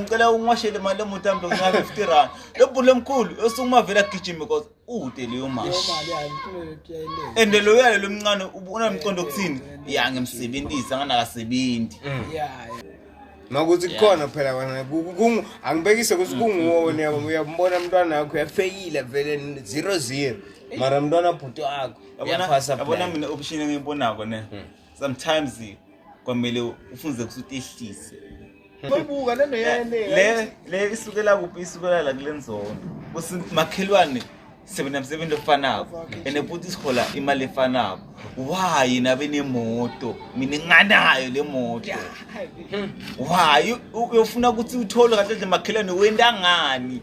ngicela ungiwashele imali lemoto yami ngincane 50 rand lebhulu emkhulu esukuma vele agijime because ude leyo mali and lo yale lomncane unamqondo kuthini ya ngimsebenzisa nganakasebenzi makuthi kukhona phela kona angibekise ukuthi kunguwona yabo uyambona umntwana wakho uyafeyile vele zero zero mara mntwana bhuti wakho uyaphasa yabona mina option engiyibonako ne hmm. sometimes kwamele ufunze ukuthi utehlise Mayibuka lento yene. Le le isukela kuphi isukela la kulenzondo. Kusi makhelwane sebenza umsebenzi ofanako ene futhi sihola imali efanako. Why nabe nemoto? Mina nganayo le moto. Why uyofuna ukuthi uthole kahle makhelwane wenda ngani?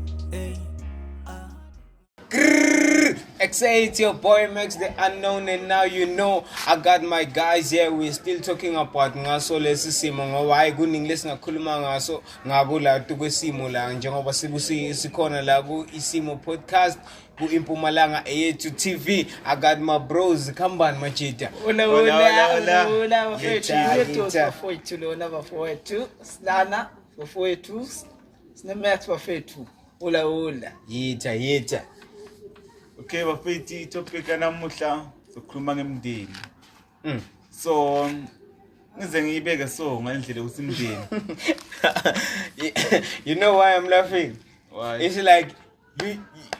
Hey. XA, it's your boy Max the Unknown, and now you know I got my guys here. We're still talking about ngaso lesi simo ngoba hayi kuningi lesingakhuluma ngaso ngako la kwesimo la njengoba sibusi sikhona la ku isimo podcast ku impumalanga eyethu TV. I got my bros khambani majita. Hola hola hola hola bafethu. Bafethu lona bafethu. Silana bafethu. Sine maths bafethu. Ula ula. Yitha yitha. Okay bafethi topic namuhla sokhuluma ngemndeni. Mm. So ngize ngiyibeke so ngalendlela ukuthi imndeni. You know why I'm laughing? Why? It's like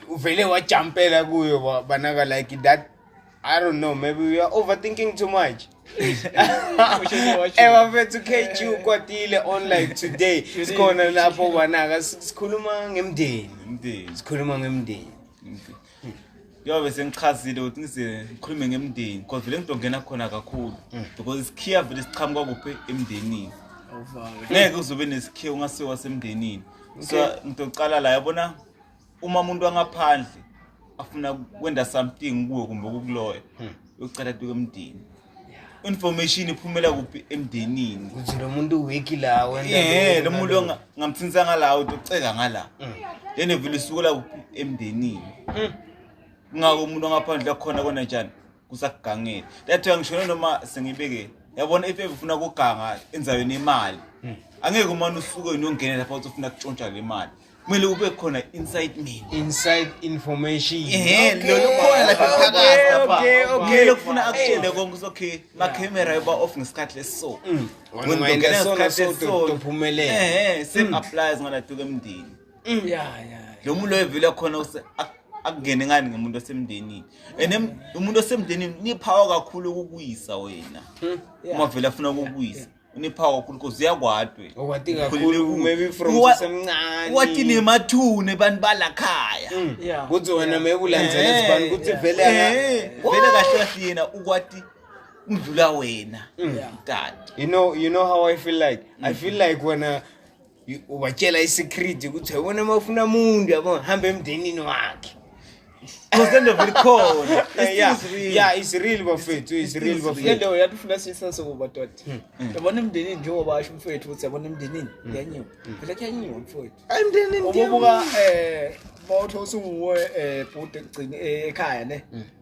uvele wajampela kuyo ba- banaka like that i don't know maybe we are overthinking too much ebafethu kg ukwatile on like today sikhona lapho banaka si- sikhuluma ngemndeni Umndeni. sikhuluma ngemndeni umndeni. Njengoba sengichazile ukuthi ngize ngikhulume ngemndeni because vele ngizongena khona kakhulu because isikhiya vele siqhamuka kuphi emndenini. Ngeke uzobe nesikhiya ungasiwa semndenini. so ngidocala la yabona uma umuntu wangaphandle afuna kwenda something kuwe kumbe kukuloya hmm. uyocela tuke emdini information iphumela kuphi emndenini ukuthi lo muntu wiki la wena lo muntu ngamthinsa ngala utoceka ngala hmm. then evile isukela kuphi emndenini hmm. ngako umuntu ongaphandle khona kona njani kusakugangile that way ngishone noma sengibeke yabona if ufuna ukuganga enzaweni imali hmm. angeke umane usuke uyongena lapha uthi ufuna kutshontsha le mali kumele ube khona inside me inside information ehe lolu khona lapha phakathi lapha okay okay lokufuna akutshele konke usokhe ma camera yoba off ngesikhathi leso hmm. wena ngena ngesikhathi leso uphumelele ehe same hmm. applies ngala duke emndini Mm. ya ya lo muntu loyo vele khona use- ak- akungene ngani ngomuntu osemndenini and em- umuntu osemndenini niphawa kakhulu ukukuwisa wena Mm. uma vele afuna ukukuwisa uniphawa kakhulu cause uyakwadwe okwati kakhulu maybe from Uwa- usemncane wathi nemathune bantu balakhaya Mm. ya kuthi wena maybe ulandzele Eh, sibani kuthi yeah. vele aka- Eh, vele kahle kahle yena ukwati umdlula wena Mm. Yeah. mdala you know you know how i feel like i feel like wena ubatshela i-secret ukuthi yabona uma ufuna muntu yabo hamba emndenini wakhe Kusende vuri khona. Yeah, yeah, it's real bafethu, it's real bafethu. Le nto yatufuna sisense kuba doti. Hmm. Yabona emndenini njengoba asho umfethu ukuthi yabona emndenini hmm. kuyanyiwa. Hmm. Phela kuyanyiwa mfethu. Emndenini ngiyabuka eh bawuthosa unguwe eh bhuti egcini eh, ekhaya ne.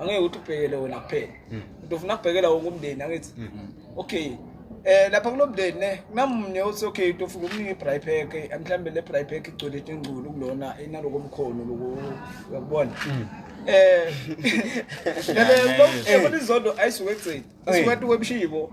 angeke ukuthi ubhekele wena kuphela hmm. into ufuna kubhekela wonke umndeni angithi hmm. okay eh lapha kulo mndeni ne kunamunye othi okay into ufuna ukunika i-bry pack mhlawumbe le bry pack igcwele ingculu kulona inaloko mkhono loko uyakubona hmm. eh lelo eh, eh, izondo ayisuke egcina asuke atuke ebushibo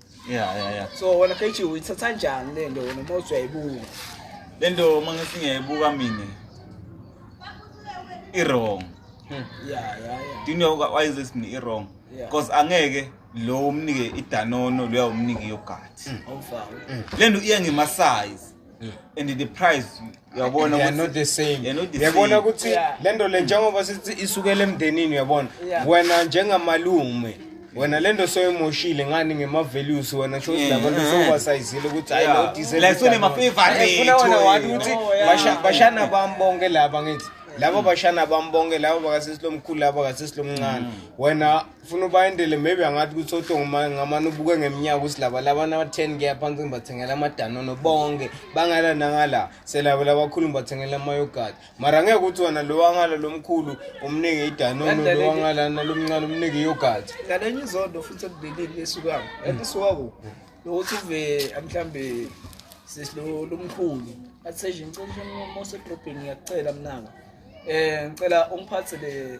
Yeah, yeah, yeah. So wena KG uyithatha kanjani le nto wena uma uthi uyayibuka? Le nto uma ngithi ngiyayibuka mina i-wrong. Hmm. Yeah, yeah, yeah. Do you know why is this i-wrong? Yeah. Because angeke lo umnike idanono lo uyawumnika iyogathi. Awufawo. Le nto iya ngema-size. and the price uyabona ukuthi not the same They're not the uyabona same. ukuthi Yeah. le nto le njengoba sithi isukela emndenini uyabona Yeah. wena njengamalume wena le nto soyimoshile ngani ngema-values wena sho ukuthi Yeah. labantu Mhm. sowubasayizile ukuthi hayi Yeah. lo diesel Like, so udalwa. nema-favourite, Eh, funa wena wathi wena. ukuthi Oh, yeah. basha- bashana bami bonke laba ngithi laba bashana bami bonke laba bakasesi lomkhulu laba bakasesi lomncane wena ufuna ubayendele maybe angathi ukuthi otongo ngamane ubuke ngeminyaka ukuthi laba labana ba-ten ke aphansi ngibathengela amadanono bonke bangala nangala selabo labakhulu ngibathengela amayogati mara ngeke ukuthi wona lo wangala lo mkhulu umnike idanono lo wangala nalo mncane umnike iyogati ngalenye izondo futhi ekubeleni lesukako and isukako nokuthi uve mhlawumbe sesilo lomkhulu athi seshe ngicela umosegrobheni ngiyacela mnaka um ngicela ungiphathele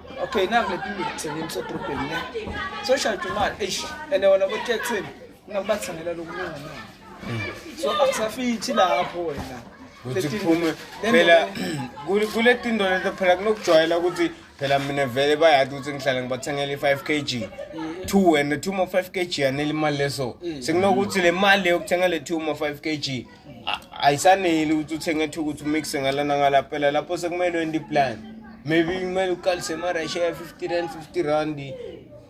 okay nangu le pindu kuthengeni kusedrobheni ne so shade imali eish and wona botaxini ngabathengela lokulunga na so akusafithi lapho wena ukuthi kuphume phela kule tindo leto phela kunokujwayela ukuthi phela mina vele bayadi ukuthi ngihlala ngibathengela i-five k g two and the two ma-five k g yanele imali leso mm. sekunokuthi le mali leyo kuthenga le two ma-five k g ayisaneli ukuthi uthenge ethuka ukuthi umixe ngalana ngala phela lapho sekumele wende iplan maybe kumele uqalise emarasha ya 50 rand 50 rand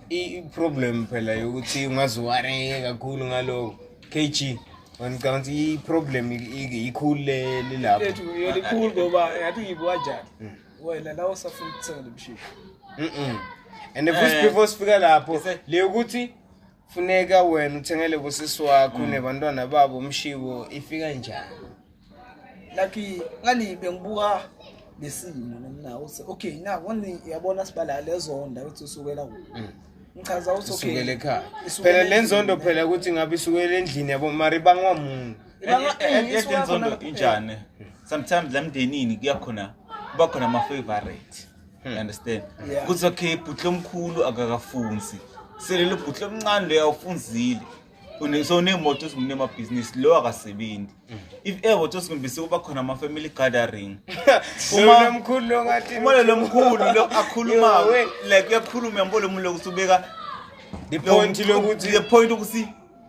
i-problem phela yokuthi ungaziwareye kakhulu ngaloko kg ngicabanga ukuthi i-problem ikhulu lelapho yona ikhulu ngoba ngathi uyibuka njani mm. wena la usafuna ukuthenga lomshini and futhi eh. before sifika lapho le ukuthi funeka wena uthengele kusisi wakho mm. nebantwana babo umshiwo ifika njani lucky ngani bengibuka lesimo namnawo se okay na wani yabona sibala lezonda ukuthi usukela ku mm. ngichaza ukuthi okay isukele ekhaya phela lenzondo phela ukuthi ngabe isukele endlini yabo mari bangwa muntu yenzondo injani sometimes lemndenini kuyakhona kuba khona ama favorite Hmm. You understand? Yeah. Kuthi okay bhutle omkhulu akakafunzi. Selelo bhutle omncane leyo awufunzile. Une so nemoto ezikumne ama business lo akasebenzi. Hmm. If ever to singimbise kuba khona ama family gathering. Uma lomkhulu lo ngathi uma lo mkhulu lo akhuluma like uyakhuluma yambole umuntu lokusubeka the point lokuthi the point ukuthi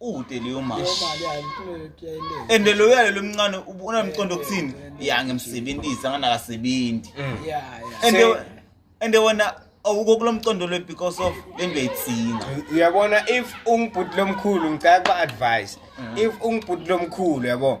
ude leyo mali and lo yale lomncane unamqondo kuthini ya ngimsebenzisa nganakasebenzi mm. and and wena awukho kulomqondo lo because of lento yayitsinga uyabona if ungibhuti lomkhulu ngicela ba advice mm. if ungibhuti lomkhulu yabo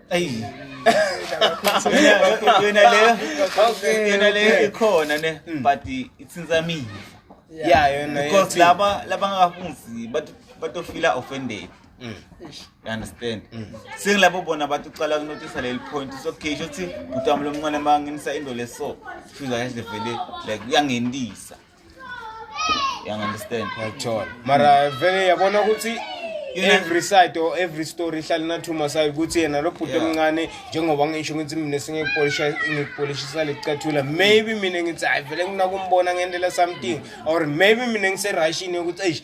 Ayi. Yona- Yona leyo. Okay, Yona leyo okay. ikhona ne Mm. but it's in the me. Yeah, yona Because yethi- laba labangakafunzi bato bato feel offended. Mm. Eish. You understand? Mm. Sengilabo bona bathi uqala kunotisa leli point so okay shothi bhuti wami lomncane manginisa into leso. Feel like vele like uyangendisa. uyangunderstand yathola mara vele yabona ukuthi every side or every story ihlale nathuma sayo ukuthi yena lo bhuti omncane njengoba ngisho ukuthi mina sengikupolishisa lekucathula maybe mina ngithi hayi vele nginakumbona ngendlela something or maybe mina ngiserashini yokuthi eish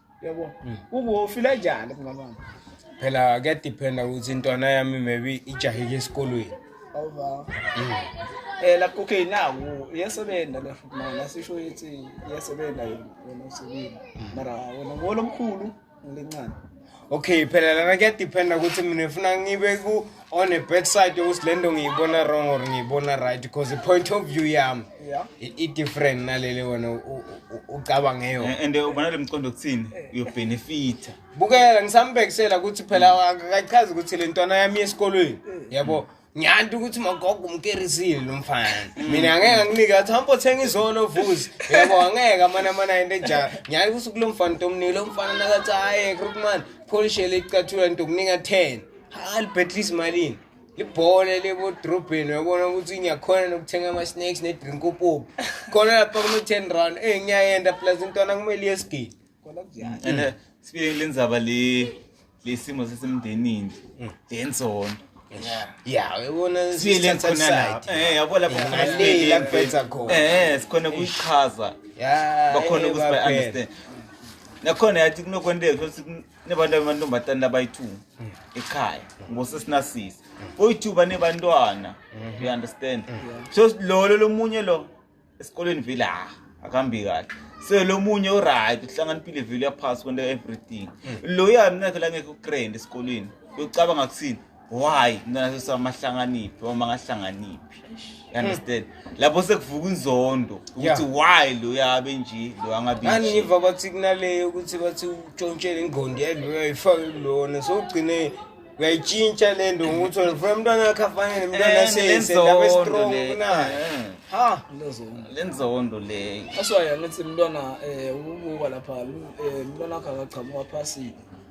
yabo hmm. ukuwofila njani kungamama phela kuyadiphenda ukuthi intwana yami maybe ijahile esikolweni awuvawa hmm. eh lapho okay nawo iyasebenza le futhi manje asisho ukuthi iyasebenza yona wena usebenza hmm. mara wena ngolomkhulu ngolincane okay phela lana kuyadiphenda ukuthi mina ngifuna ngibe ku on a bad side ukuthi lento ngiyibona wrong or ngiyibona right because the point of view yami yeah. i-different nalele wena ucabanga eyo eh, and eh, ubona le mqondo kuthini uyobenefitha bukela ngisambhekisela ukuthi phela akachazi ukuthi le ntwana yami yesikolweni yabo yeah, ngiyanti ukuthi magogo umkerisile lo mfana mina angeke anginike athi hambo thenga izolo vuzi yebo angeke amane amane into enjalo ngiyaye ukuthi kulo mfana ntomnike lo mfana nakathi hayi krukman pholishele icathula ntokunika 10 alibhedlisa imalini libhole lebodrobheni uyabona ukuthi ngiyakhona nokuthenga ama-snacks ne-drink upopi khona lapha kuno-ten round ey ngiyayenda plus intwana kumele iyesigidi and uh, sibike kule ndzaba le lesimo sesemndenini mm. lenzondo ya uyabona eh, yabo lapho eh, sikhona kuyichaza bakhona ukuthi by understand nakhona yathi kunokwenteka nebantu abamantombazane labayi-two mm. ekhaya ngosesinasisi boyi-two banebantwana mm-hmm. you understand so lolo lomunye lo esikolweni vele ha akahambi kahle so lo munye uright uhlanganiphile vele uyaphasi kwento everything mm. loya mina phela ngekho ukrend esikolweni uyocabanga kuthini why mntana sesi wami ahlanganiphi wami angahlanganiphi you understand lapho sekuvuka inzondo ukuthi Yeah. why lo yabe nje lo angabi ngani nje. ngiva bathi kunaleyo ukuthi bathi utshontshele ingqondo yalo uyayifake kulona so ugcine uyayitshintsha le nto ngokuthi wena ufuna umntwana wakho afanele umntwana Eh, aseyisendaba lenzondo estrong le. kunayo Eh, ha Lezona. lenzondo leyo That's why angithi mntwana eh ubuka lapha lu- eh mntwana wakhe akaqhamuka phasile.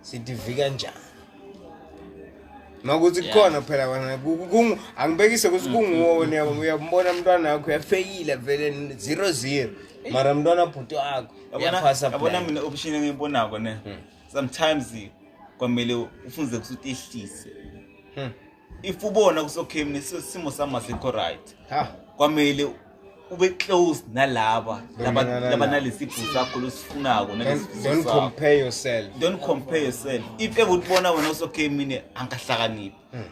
sidivi kanjani makuthi kukhona phela kona angibekise ukuthi kunguwona uyambona mntwana wakho uyafeyile vele zero zero mara mntwana bhuti wakho yabona mina option engiyibonako ne hmm. sometimes kwamele ufunze kuthi utehlise hmm. if ubona kusokhemini simo sami asikho right kwamele ube close nalaba laba nalesipho sakho losifunako don't compare yourself don't compare yourself if ever utibona wena usokhemini angahlakaniphi hmm.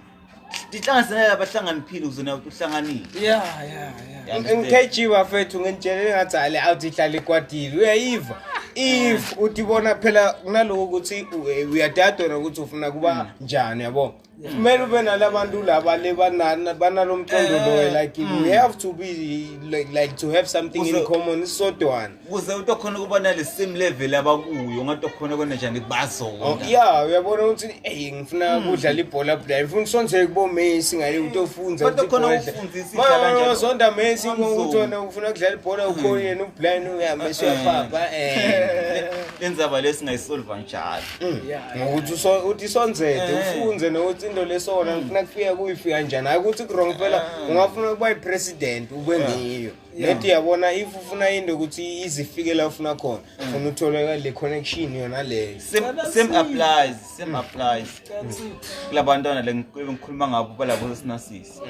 ndihlanganiselele abahlangani ukuze nawe uhlanganile ya ya ya ngikg bafethu nginitshelele ngathi ale awuthi ihlala ikwadile uyayiva if utibona phela kunaloko ukuthi uyadadona ukuthi ufuna kuba hmm. njani yabo kumele ube nala bantu laba le banalo mqondo eh, loyo like mm. we have to be like, like to have something in common isodwana kuze uthi okhona ukubona le same level abakuyo ngathi okhona kona njani bazona oh, ya uyabona ukuthi ey ngifuna mm. kudlala ibhola bla ngifuna usonze kubo Messi ngale uthi ofunza ukuthi khona ufundisa idlala njalo sonda Messi ngokuthola ufuna kudlala ibhola ukhona mm. yena ublind uyamesha eh. papa eh lenzaba lesingayisolva njalo Mm. ngokuthi uthi isonzede eh. ufunze nokuthi into lesona ngifuna mm. kufika kuyifika njani hayi ukuthi kurong phela eh. ungafuna ukuba yipresident ube eh. ngiyo nedi yabona if ufuna into ukuthi izifike la ufuna khona mm. funa utholeka le connection yona leyo same applies same applies kulabantwana le ngikhuluma ngabo balabo sinasisi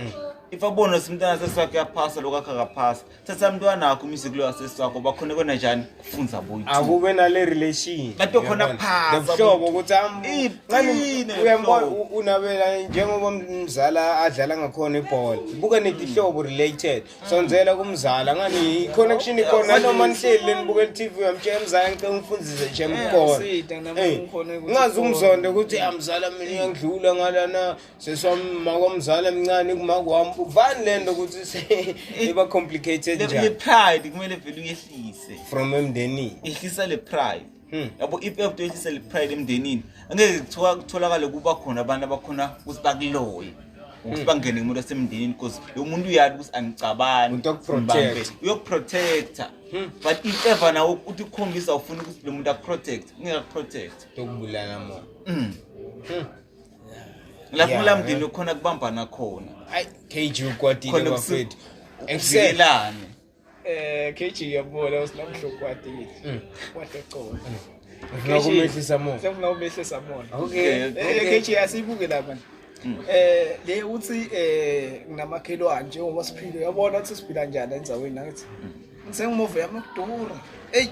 if abona simntana sesakhe yaphasa lokakhe akaphasa thatha mntwana wakho umise kulo wasesi wakho bakhona kona njani kufunza boyithu akube nale relation Bato khona Uyabona? phansi, Nobuhlobo abuthi. ukuthi am- Iqine nxani lelo uyambona hlobo. u- unabela njengoba umzala adlala ngakhona ibhola buka netihlobo related sonzela kumzala ngani i-connection ikhona noma nihleli lenibuka i-tv uyamtshela mzala ngicela ungifundise shem Eh, kukhona usita, nami Eh, ngikhona ukuthi ngingazi umzonda ukuthi amzala mina uyangidlula ngalana sesommakomzala mncane kumakwami vani le nto ukuthi iba complicated njani pride kumele vele uyehlise from emndenini ehlisa le pride hmm. yabo if you have to ehlisa le pride emndenini angeke kuthiwa kutholakale kuba khona abantu abakhona ukuthi bakuloye ukuthi hmm. bangene kumuntu osemndenini because lo muntu uyali ukuthi angicabani uyokuprotecta hmm. but if ever nawo uthi ukhombisa ufuna ukuthi lo muntu akuprotect ungeke akuprotect tokubulala mona lapho ulamdini ukhona kubambana khona ayi KG ukwatile Khona kusu- bafethu excel kuvikelane Eh KG yabona usinamhloko kwadile. Mm. Kwadecola. ufuna ukumehlisa mo Sengifuna ubehlisa mona. okay Eh, okay KG asibuke la manje. Mm. Eh le uthi eh nginamakhelwane njengoba siphile uyabona ukuthi siphila njani endzaweni nakithi. Mm. Sengimuve yami ukudura. Ey,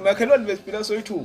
makhelwane besiphila soyithuba.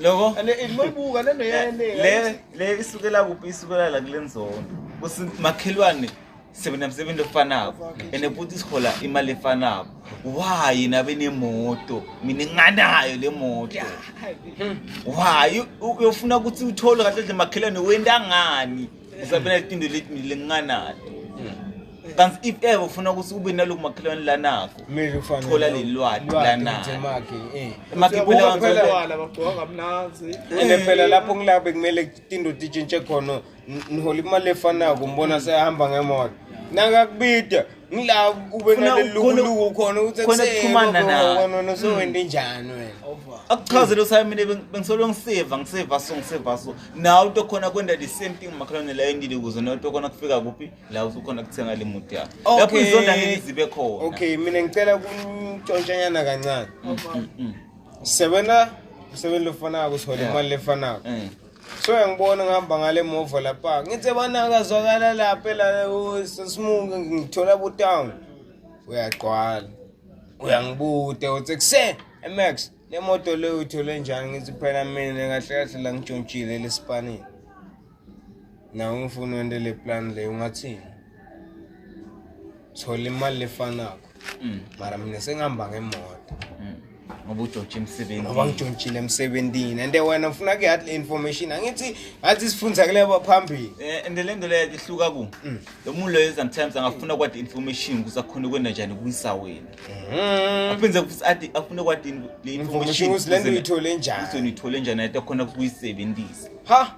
loko And it might buka lento yayenele. le le isukela kuphi isukela la kule nzondo kusi makhelwane sebenza msebenzi ofanako ene futhi sihola imali efanako why nabe nemoto mina nginganayo le moto why uyofuna ukuthi uthole kahle kahle makhelwane wenda ngani Isabela itinto lenginganato hmm. kanti if ever ufuna ukuthi ube naloku makhelwane lanakho thola lelwati lanakho eh. ene phela lapho ngila bekumele tinto titshintshe khona nihola imali efanako mbona seyahamba ngemoto nakakubida ngila ube nalelukuluku khona ukuthi kusekhumana nawe sowende mm. njani wena akuchazele usimine bengisolo ngisiva ngisiva so ngisiva so nawe uto khona kwenda the same thing makhalwane la endile kuze nawe uto khona kufika kuphi la usukhona kuthenga le muti yakho lapho izonda ngeke zibe khona okay mina ngicela kuntshontshanyana kancane mm, mm, sebenza usebenza lofanako uthole imali lefanako soya ngibona ngihamba ngale mova lapha ngithe banakazwakala lapha la sesimuke ngithola butown uyagqwala uyangibude uthi ekuseni emax le moto leyo uyithole njani ngithi phela mina kahle kahle la ngitshontshile lesipanini nawe ngifuna wente le plan leyo ungathini thola imali lefanako Mm. Mara mina sengihamba ngemoto. Mm. ngoba ujotshe emsebenzini ngoba ngijontshile emsebenzini and wena ufuna ke hard information angithi ngathi sifundza kuleba phambili eh and le nto leyo ihluka ku mm. lo muntu loyo sometimes angafuna kwadi information kuze akhone ukwenda njani kuyisa wena mm-hmm. aphinde athi afune kwadi le information le nto uyithole njani uzonithole njani athi akhona ukuyisebenzisa ha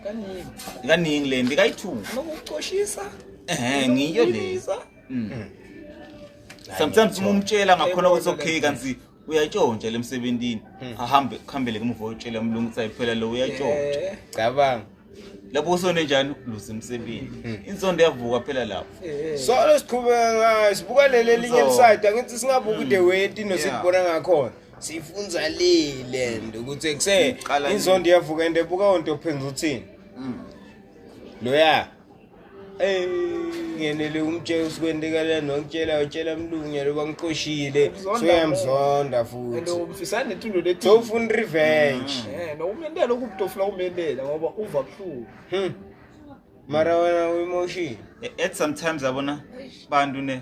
kaningi kaningi le mbi kayi-two nokucoshisa ehe ngiyo le Mm. sometimes uma umtshela ngakhona ukuthi okay kanti uyatshontsha le msebentini ahambe kuhambele ke muva utshela umlungu ukuthi ayiphela lo uyatshontsha Eh, cabanga lapho usone njani luze emsebenzi insondo yavuka phela lapho eh. so lesiqhubeka ngayo sibuka leli elinye So- lisayida ngithi singabuki the way tino sikubona ngakhona siyifunza lile nto ukuthi kuse Iqala inzondo iyavuka and ebuka onto ophenza uthini Mm. loya ey ngenele umtshela usikwendekala nokutshela utshela mlungu loba ngiqoshile Ukuzonda soyamzonda and futhi umfisana netundo lethi sofuna revenge eh nokumendela ukubutofuna umendela ngoba uva buhlungu Hmm. mara wena uemotion E- at sometimes yabona bantu ne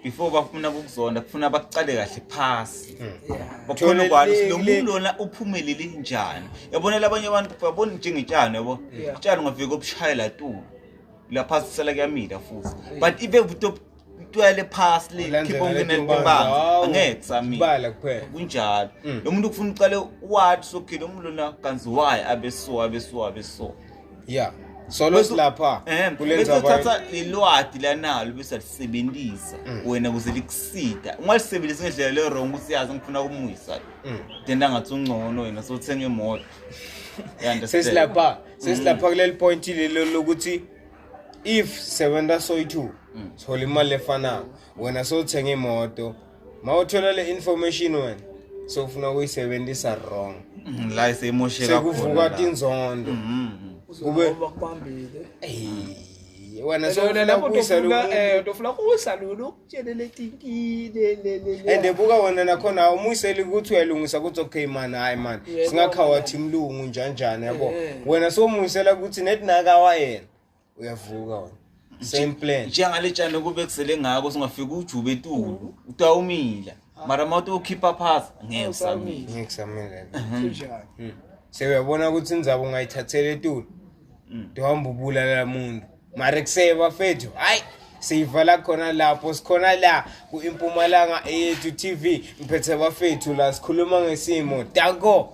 before bafuna ukuzonda kufuna bakuqale kahle phasi hmm. bakhona ukwani ukuthi lo muntu lona uphumelele njani yabonela abanye abantu babona njengetshani yabo utshani ungafika obushayela tu lapha sisela kuyamila futhi but ibe buto twele phasi le khipha ungena libanga angeke sami bala kuphela kunjalo hmm. lo muntu kufuna uqale wathi sokhile umuntu lona kanzi why abeso abeso abeso yeah solo silapha eh, kulenza uthatha ilwadi lanalo bese lisebenzisa mm. wena kuze likusida ungalisebenzisa ngendlela le wrong ukuthi yazi ngifuna ukumuyisa mm. then angathi ungcono wena sothenga imoto sesilapha sesilapha mm. kuleli point lelo lokuthi if sebenza soyi-two sithola imali efanayo wena sowuthenga imoto mawuthola le information wena sofuna ukuyisebenzisa wrong mm, la isemosheka sekuvuka tinzondo mm, mm, kube bakubambile wena sowunakuyisalutofuna eh, kuyisalula ukutshele letinkile and buka wena nakhona awumuyiseli ukuthi uyalungisa ukuthi okay mani hhayi mani singakhawathi mlungu njanjani yabo eh. wena sowumuyisela ukuthi netinakawa yena uyavuka wona same plan njengale tshani kube kusele ngako singafika ujube etulu utawumila mara uma uthi ukhipha phasi ngeke usamile ngeke kusamile Hmm. sewuyabona ukuthi indzaba ungayithathela etulu Mm. tihamba ubulala muntu mara kuseye bafethu hayi siyivala khona lapho sikhona la ku-impumalanga eyethu tv ngiphethe bafethu la sikhuluma ngesimo danko